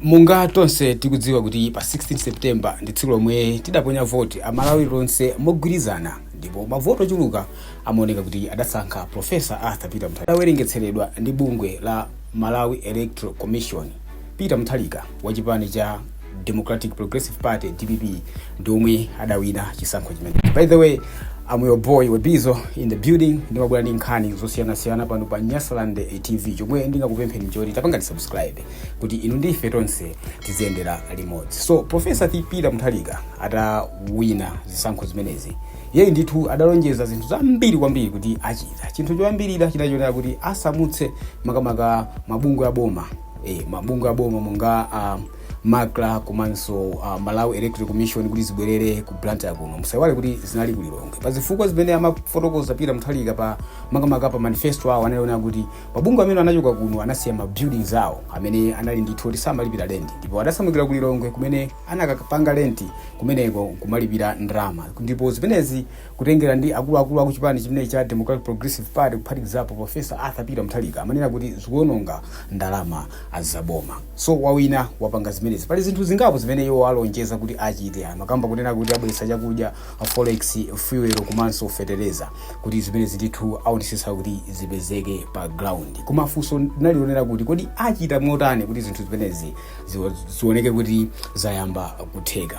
Monga tonse tikudziwa kuti pa 16 September ndi tsiku lomwe tidaponya voti a Malawi tonse mogwirizana ndipo mavoti ochuluka amaoneka kuti adasankha Prof. Arthur Peter Mutharika. Adawerengetseredwa ndi bungwe la Malawi Electoral Commission, Peter Mutharika wa chipani cha Democratic Progressive Party, dpp, ndi omwe adawina chisankho chimenechi by the way I'm your boy webizo in the building ndimabwera ndi nkhani zosiyanasiyana pano pa nyasaland eh, tv chomwe ndingakupempheni nchoti tapangani subscribe kuti inu ndi ife tonse tiziyendera limodzi so profesa arthur peter mutharika adawina zisankho zimenezi iyeyu ndithu adalonjeza zinthu zambiri kwambiri kuti achita chinthu choyambirira chinali chonena kuti asamutse makamaka mabungwe aboma eh, mabungwe aboma monga um, macra komanso uh, malawi electoral commission kuti zibwerere ku blantyre kuno musaiwale kuti zinali ku lilongwe pa zifukwa zimene amafotokoza peter mutharika pa makamaka pa manifesto awo anali onena kuti mabungwe amene anachoka kuno anasiya ma buildings awo amene anali ndithu kuti samalipira rent ndipo adasamukira ku lilongwe kumene anakapanga rent kumeneko nkumalipira ndalama ndipo zimenezi Kutengera ndi akuluakulu aku chipani chimenechi cha Democratic Progressive Party kuphatikizapo Professor Arthur Peter Mutharika amanena kuti zikuononga ndalama za boma. So wawina wapanga zimenezi. Pali zinthu zingapo zimene iwo alonjeza kuti achite. Amakamba kunena kuti abweretsa chakudya, forex, fuel komanso fetereza kuti zimenezi ndithu aonetsetsa kuti zipezeke pa ground. Koma funso linali lonena kuti kodi achita motani kuti zinthu zimenezi ziwo- zioneke kuti zayamba kutheka.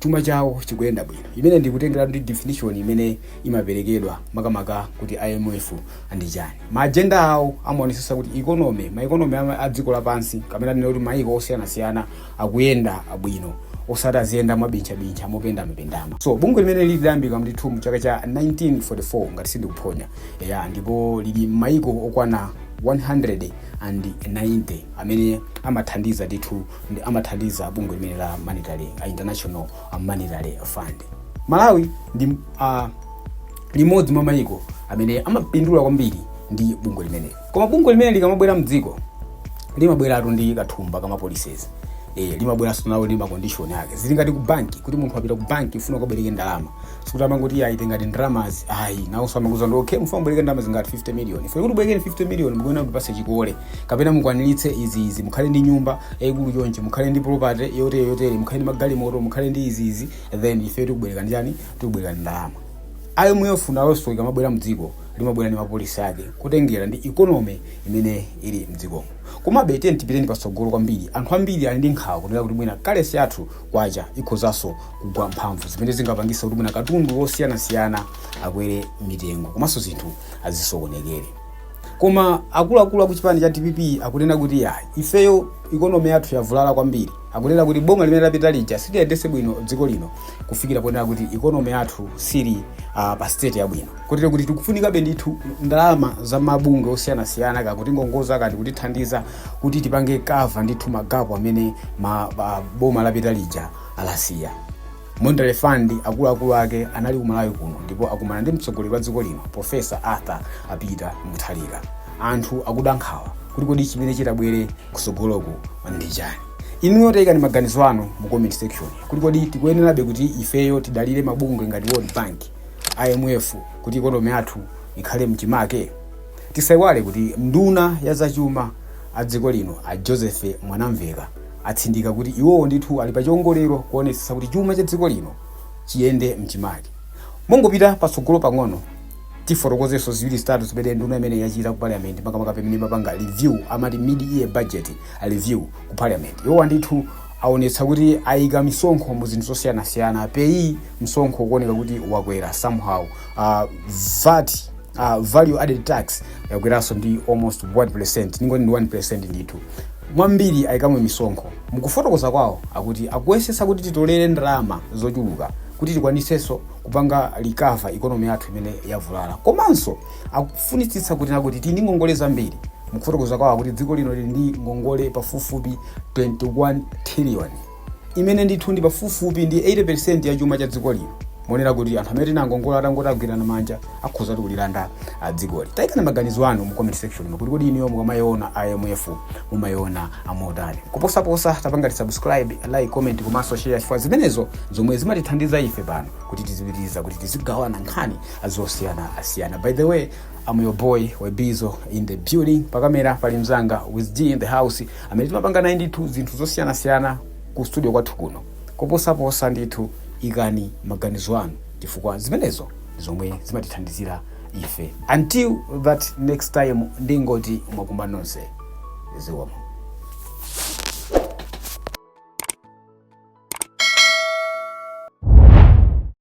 chuma chawo chikuyenda bwino imene ndikutengera ndi definition imene imaperekedwa makamaka kuti imf ndi chani maajenda awo amaonesesa kuti economy ma economy ama- a dziko lapansi kapena tinene kuti maiko osiyanasiyana akuyenda bwino osati aziyenda mwabinchabincha mopendamapendama so bungwe limene lidayambika ndithu mu chaka cha 1944 ngati sindikuphonya ya ndipo lili m'maiko okwana 190 amene amathandiza ndithu ndi amathandiza bungwe limene la monetary a international a monetary fund malawi ndi uh, limodzi mwa mayiko amene amapindula kwambiri ndi bungwe limeneli koma bungwe limene likamabwera mdziko limabweratu ndi kathumba kama policies eh limabweranso nawo ndi ma condition ake zili ngati ku banki kuti munthu wapita ku banki ufuna ukabwereke ndalama sikuti amangoti iyayi tengani ndalamazi ayi nawonso amakuuza kuti okay mufuna kubwereka ndalama zingati 50 million ife kuti tikubwerekeni 50 million mukuyenera kutipasa chikole kapena mukwaniritse izi izi mukhale ndi nyumba yayikulu chonchi mukhale ndi property yotere yotere mukhale ndi magalimoto mukhale ndi izi izi then ife tikubwerekani chani tikubwerekani ndalama imf nawonso ikamabwera mdziko limabwera ndi ma policy ake kutengera ndi economy imene ili mdzikomo komabe tiyeni tipiteni patsogolo kwambiri anthu ambiri ali ndi nkhawa kunena kuti mwina currency yathu kwacha ikhozanso kugwa mphamvu zimene zingapangitse kuti mwina katundu wosiyanasiyana akwere mitengo komanso zinthu azisokonekere koma akuluakulu akuchipani cha dpp akunena kuti ya ifeyo ikonomi yathu yavulala kwambiri akunena kuti boma limene lapita lija siliyendetse bwino dziko lino kufikira ponena kuti ikonomi yathu sili uh, pa state yabwino kotero kuti tikufunikabe ndithu ndalama za mabungwe osiyanasiyana kutingongoza kaya kutithandiza kuti tipange cover ndithu magapu amene ma, uh, boma lapita lija Alasiya. Monetary Fund akuluakulu ake anali ku Malawi kuno ndipo akumana ndi mtsogoleri wa dziko lino Professor Arthur Peter Mutharika. Anthu akuda nkhawa kuti kodi chimene chitabwere kusogoloku ndi chani. Inuyo taikani maganizo anu mu comment section kuti kodi tikuyenerabe kuti ifeyo tidalire mabungwe ngati World Bank, IMF kuti ikonomi yathu ikhale mchimake. Tisaiwale kuti nduna ya zachuma a dziko lino a Joseph Mwanamveka atsindika kuti iwowo ndithu ali pa chiongolero kuonetsetsa kuti chuma cha dziko lino chiyende m'chimake. Mongopita patsogolo pang'ono, tifotokozenso ziwiri zitatu zimene nduna imeneyi yachita ku Parliament, makamaka pamene imapanga review, amati mid-year budget review ku Parliament. Iwowa ndithu aonetsa kuti aika misonkho mu zinthu zosiyanasiyana, PAYE msonkho ukuoneka kuti wakwera somehow, ah, VAT uh, value added tax yakweranso ndi almost 1% ndingoti ndi 1% ndithu mwambiri ayikamo misonkho mukufotokoza kwawo akuti akuyesetsa kuti titolere ndalama zochuluka kuti tikwanitsenso kupanga recover ikonomi yathu imene yavulala komanso akufunitsitsa kuti nakuti tili ndi ngongole zambiri mukufotokoza kwawo akuti dziko lino lili ndi ngongole pafupifupi 21 trillion imene ndithu ndi pafupifupi ndi 80% ya chuma cha dziko lino monena kuti anthu amene tinawangongola atangoti agwirana manja akhoza kutilanda dzikoli tayikani maganizo anu mu comment section ino kuti kodi inuyo mukamayiona imf mumayiona motani kuposaposa tapangani subscribe like comment komanso share chifukwa zimenezo zomwe zimatithandiza ife pano kuti tizipitiriza kuti tizigawana nkhani zosiyanasiyana by the way I'm your boy Webizo in the building pakamera pali mzanga with D in the house amene timapanga naye ndithu zinthu zosiyanasiyana ku studio kwathu kuno kuposaposa ndithu ikani maganizo anu chifukwa zimenezo ndi zomwe zimatithandizira ife until that next time ndingoti mwakumba nonse zikomo